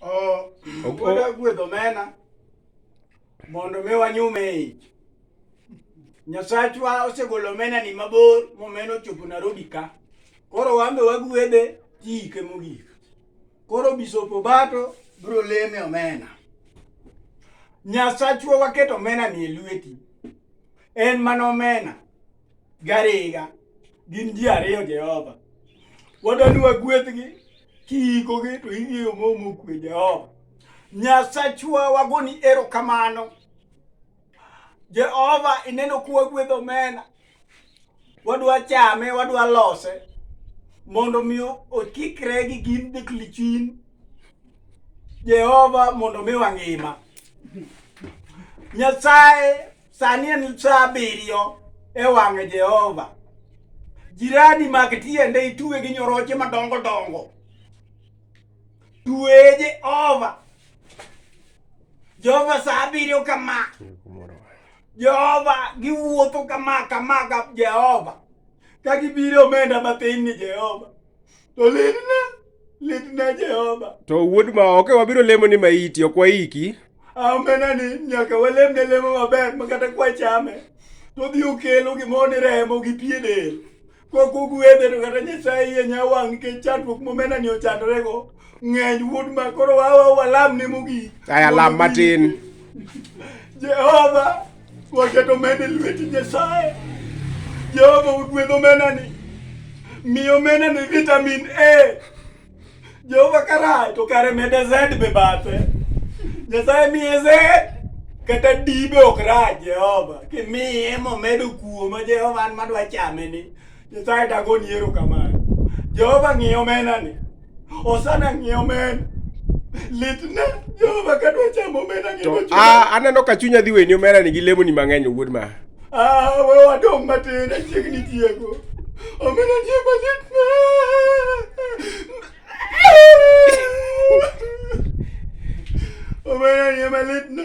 Oh, pod agwedho mena mondo mi wanyume e ich. Nyasachwa osegolo mena ni mabor momeno ochopo Nairobi ka. Koro wambe wagwedhe tiike mogik. Koro bisopo bato bro leme omena. Nyasachwa waketo omena ni e lweti. En mana omena gariga gin ji ariyo Jehova. Wadwani wagwedhgi Kiikogi to ing'eyo momo kwe Jehova. Nyasachwa wagoni erokamano. Jehova ineno kuwa gwedho omena. Wadwa chame, wadwa lose mondo mi okikre gi gin dek lichwin Jehova mondo mi wangima. Nyasaye Sani en sa abiriyo e wang'e Jehova. Jirani mag tiende ituwe gi nyoroche madongo dongo. Tuwe Jehova. Jehova sa abiriyo kama. Jehova giwuotho kama kama Jehova. Ka gibiro omenda mathin ni Jehova. To litna, litna Jehova. To wuod ma ok wabiro lemo ni maiti, ok waiki. Amena ni nyaka walemne lemo maber ma kata kwachame to dhi okelo gimoro ni remo gi pie del. Kok ogwedhe to kata Nyasaye yie nya wang' nikech chandruok momena ni ochandorego ng'eny wuod ma koro wawa walam ne mogik. Aya lam matin. Jehova Waketo omena e lweti Nyasaye. Jehova ogwedh omenani. Mi omenani vitamin A. Jehova karaye to kare mede Z be bathe. Nyasaye miye Z kata D be ok rach Jehova. Kimiye momedo kuoma Jehova an madwa chame ni. Nyasaye dagoni erokamano. Jehova ng'iyo omenani. Osana ng'iyo omena. Litna Jehova kadwa chamo omena To ng'eto chunya. a aneno ka chunya dhi weni omera ni gi lemoni mang'eny wuod ma. Ah, we wadong' matin achiegni tieko. Omena jema litna. Omena jema litna.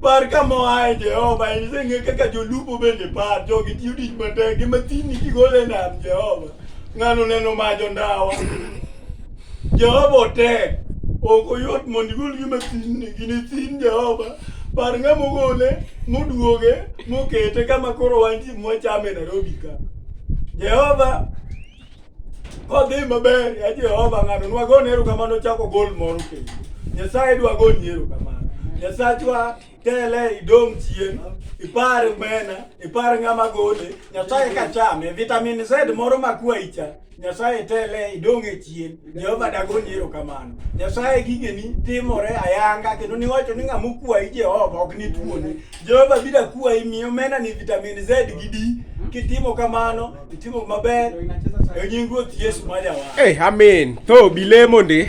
Par ka moa e Jehova, iseng'e kaka jolupo bende par, jogi tiyo tich matek, gi mathini kigole nam Jehova. Ng'ano neno ma jondawa. Jehova otek, ok oyot mondo igol gi mathini, gini thin Jehova. Par ng'ama ogole, moduoge, mokete kama koro wantie mwachame Nairobi ka. Jehova Odhi maber, ya Jehova ng'ato nwagone erokamano chako gol moro kendo. Nyasaye dwa goni erokamano. Nyasachwa tele idong' chien, ipar mena, ipar ng'ama gole. Nyasaye ka chame, vitamin Z moro makwayi cha. Nyasaye tele idong' e chien, Jehova dagoni erokamano. Nyasaye gigeni timore ayanga kendo niwacho ni ng'ama okwayi Jehova ok nituone. Jehova bila kuwa imiyo mena ni vitamini Z gi D kitimo kamano itimo maber e nying Ruoth Yesu majawa. Hey, amen. To bilemo ndi.